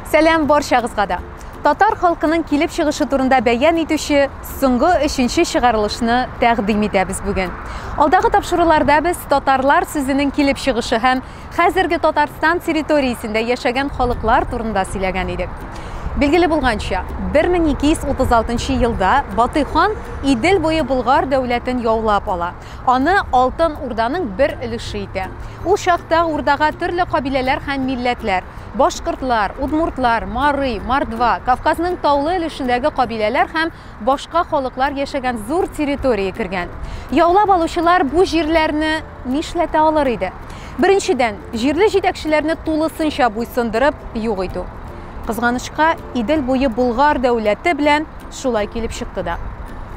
Сәлам баршагызга да. Татар халкының килеп чыгышы турында бәян итүче соңгы өченче чыгарылышны тәкъдим итәбез бүген. Алдагы тапшыруларда без татарлар сүзенең килеп чыгышы һәм хәзерге Татарстан территориясендә яшәгән халыклар турында сөйләгән идек. Билгеле булганча, 1236 елда Батый хан Идел буе Болгар дәүләтен яулап ала Аны Алтын Урданың бер өлеше итә. Ул чакта Урдага төрле кабиләләр һәм милләтләр, башкортлар, удмуртлар, марый, мордва, Кавказның таулы өлешендәге кабиләләр һәм башка халыклар яшәгән зур территория кергән. Яулап алучылар бу җирләрне нишләтә алыр иде? Беренчедән, җирле җитәкчеләрне тулысынча буйсындырып юк итү. Кызганычка, Идел буе Болгар дәүләте белән шулай килеп чыкты да.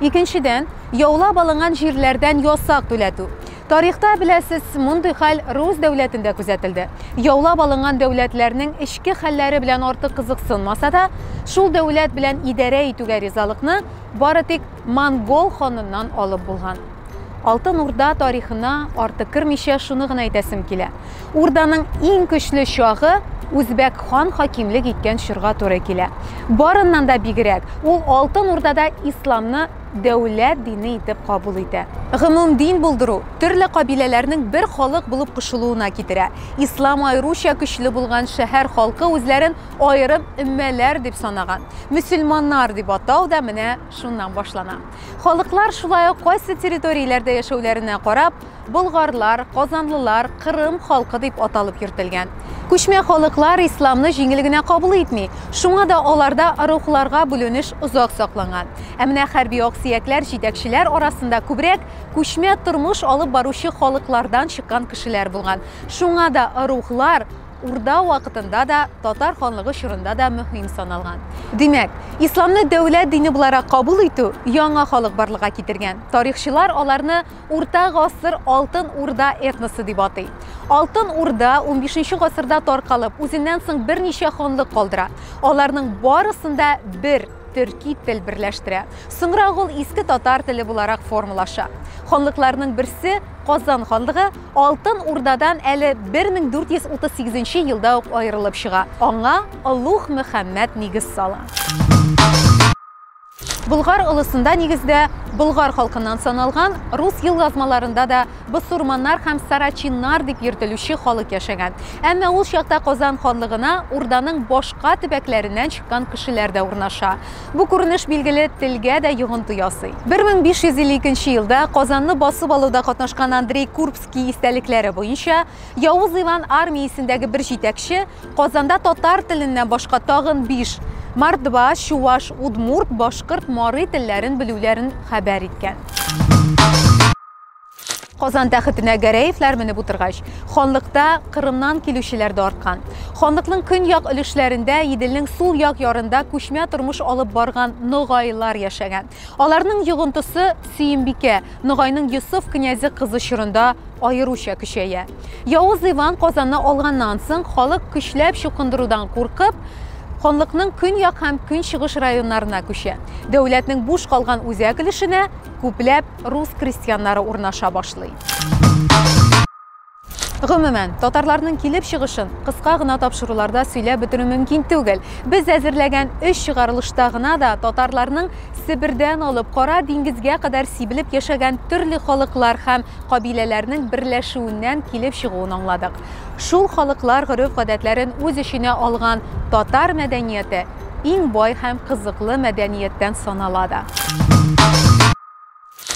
Икенчедән, Яулап алынган җирләрдән ясак түләтү. Тарихта, беләсез, мондый хәл рус дәүләтендә күзәтелде. Яулап алынган дәүләтләрнең эчке хәлләре белән артык кызыксынмаса да, шул дәүләт белән идарә итүгә ризалыкны бары тик монгол ханыннан алып булган. Алтын Урда тарихына артык кермичә шуны гына әйтәсем килә, Урданың иң көчле чагы үзбәк хан хакимлек иткән чорга туры килә. Барыннан да бигрәк, ул Алтын Урдада исламны дәүләт дине итеп кабул итә. Гомумдин булдыру төрле кабиләләрнең бер халык булып кушылуына китерә. Ислам аеруча көчле булган шәһәр халкы үзләрен аерым өммәләр дип санаган. Мөселманнар дип атау да менә шуннан башлана. Халыклар шулай ук кайсы территорияләрдә яшәүләренә карап, Болгарлар, казанлылар, Кырым халкы дип аталып йөртелгән. Күчмә халыклар исламны җиңел генә кабул итми, шуңа да аларда рухларга бүленеш озак сакланган. Ә менә хәрби аксөякләр җитәкчеләр арасында күбрәк күчмә тормыш алып баручы халыклардан чыккан кешеләр булган. Шуңа да рухлар Урда вакытында да, татар ханлыгы чорында да мөһим саналган. Димәк, исламны дәүләт дине буларак кабул итү яңа халык барлыкка китергән. Тарихчылар аларны Урта гасыр Алтын Урда этносы дип атый. Алтын Урда 15 гасырда таркалып, үзеннән соң берничә ханлык калдыра. Аларның барысын да бер төрки тел берләштерә. Соңрак ул иске татар теле буларак формалаша. Ханлыкларның берсе Казан ханлыгы Алтын Урдадан әле 1438 елда ук аерылып чыга. Аңа Олуг Мөхәммәд нигез сала. Болгар олысында, нигездә, болгар халкыннан саналган, рус елъязмаларында да бысурманнар һәм сарачиннар дип йөртелүче халык яшәгән. Әмма ул чакта Казан ханлыгына Урданың башка төбәкләреннән чыккан кешеләр дә урнаша. Бу күренеш, билгеле, телгә дә йогынты ясый. 1552 елда Казанны басып алуда катнашкан Андрей Курбский истәлекләре буенча, Явыз Иван армиясендәге бер җитәкче Казанда татар теленнән башка тагын биш мордва, чуваш, удмурт, башкорт, марый телләрен белүләрен хәбәр иткән. Казан тәхетенә Гәрәевләр менеп утыргач, ханлыкта Кырымнан килүчеләр дә арткан. Ханлыкның көньяк өлешләрендә, Иделнең сул як ярында күчмә тормыш алып барган ногайлар яшәгән. Аларның йогынтысы Сөембикә, Ногайның Йосыф князі кызы чорында аеруча көчәя. Явыз Иван Казанны алганнан соң, халык көчләп чукындырудан куркып, ханлыкның көньяк һәм көнчыгыш районнарына күчә. Дәүләтнең буш калган үзәк өлешенә күпләп рус крестьяннары урнаша башлый. Гомумән, татарларның килеп чыгышын кыска гына тапшыруларда сөйләп бетерү мөмкин түгел. Без әзерләгән өч чыгарылышта гына да татарларның Себердән алып Кара диңгезгә кадәр сибелеп яшәгән төрле халыклар һәм кабиләләрнең берләшүеннән килеп чыгуын аңладык. Шул халыклар гореф-гадәтләрен үз эченә алган татар мәдәнияте иң бай һәм кызыклы мәдәнияттән санала да.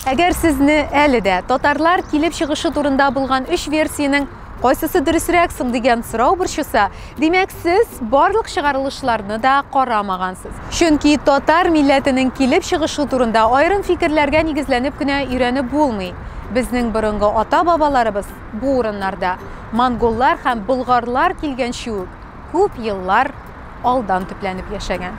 Әгәр сезне әле дә татарлар килеп чыгышы турында булган өч версиянең кайсысы дөресрәк соң дигән сорау борчыса, димәк, сез барлык чыгарылышларны да карамагансыз. Чөнки татар милләтенең килеп чыгышы турында аерым фикерләргә нигезләнеп кенә өйрәнеп булмый. Безнең борынгы ата-бабаларыбыз бу урыннарда монголлар һәм болгарлар килгәнче үк күп еллар Алдан төпләнеп яшәгән.